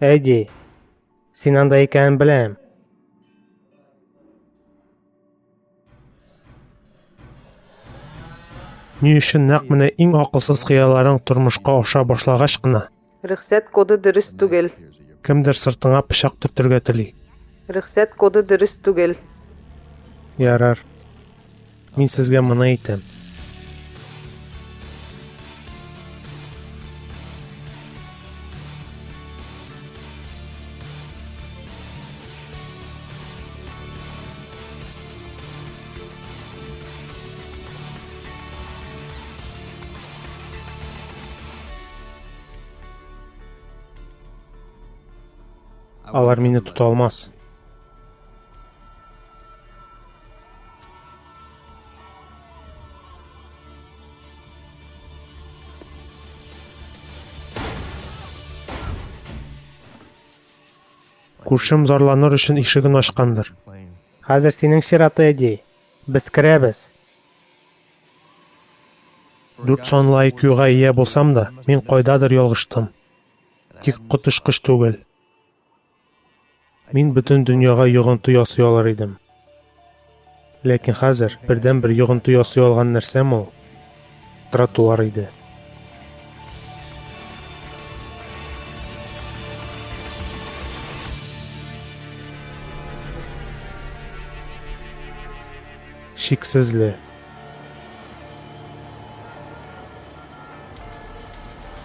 Әйди, син анда икәнен беләм. Ни өчен нәкъ менә иң акылсыз кыяларың тормышка аша башлагач кына Рөхсәт коды дөрес түгел. кемдер сыртыңа пычак төртергә тели. Рөхсәт коды дөрес түгел. Ярар. Мин сезгә моны әйтәм. Алар мине тота алмас. Күршем зарланыр өчен ишеген ачкандыр. Хәзер синең чираты, Эдди. Без керәбез. Дүрт санлы IQ-га ия булсам да, мин кайдадыр ялгыштым. Тик коточкыч түгел. Мин бөтен дөньяга йогынты ясый алыр идем. Ләкин хәзер бердәнбер йогынты ясый алган нәрсәм ул тротуар иде. Шиксезле.